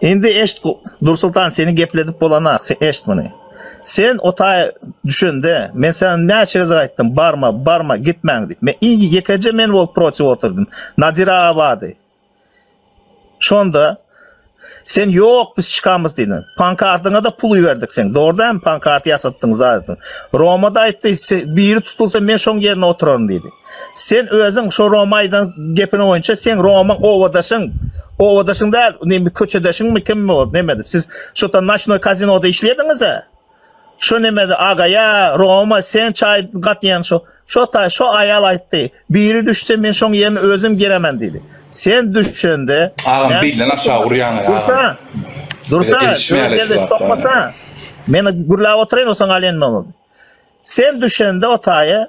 Indi eşit, Nursoltan, seni gepledip bolanak, sen eşit muny. Sen o taýa düşende, men saňa näçe gezek aýtdym, barma, barma, gitmäň diýip. Men iň ýekeje men bolup protiw oturdym. Nadir aga bardy. Şonda Sen ýok, biz çykamyz diýdiň. Pankartyňa-da pul iberdik seň. Dogry dämi? Pankart ýasatdyň, zat etdiň. Roma-da aýtdy, biri tutulsa men şoň ýerine oturaryn diýdi. Sen özüň şo Roma aýdan gepiň boýunça seň Romyň obadaşyň, obadaşyň däl, neme köçedeşiňmi kimmi ol nemedi. Siz şota naçnoý kazinoda işleýädiňiz-ä. Şo nemedi agaýa Roma sen çaý gatýan şo. Şo taý şo aýal aýtdy. Biri düşse men şoň ýerine özüm giremen diýdi. Sen düşende Agam bizden aşağı urýaň agam. Dursa. Dursa. Sokmasa. Meni gürläp otyraýyn osaň alýan boldy. Sen düşende o taýa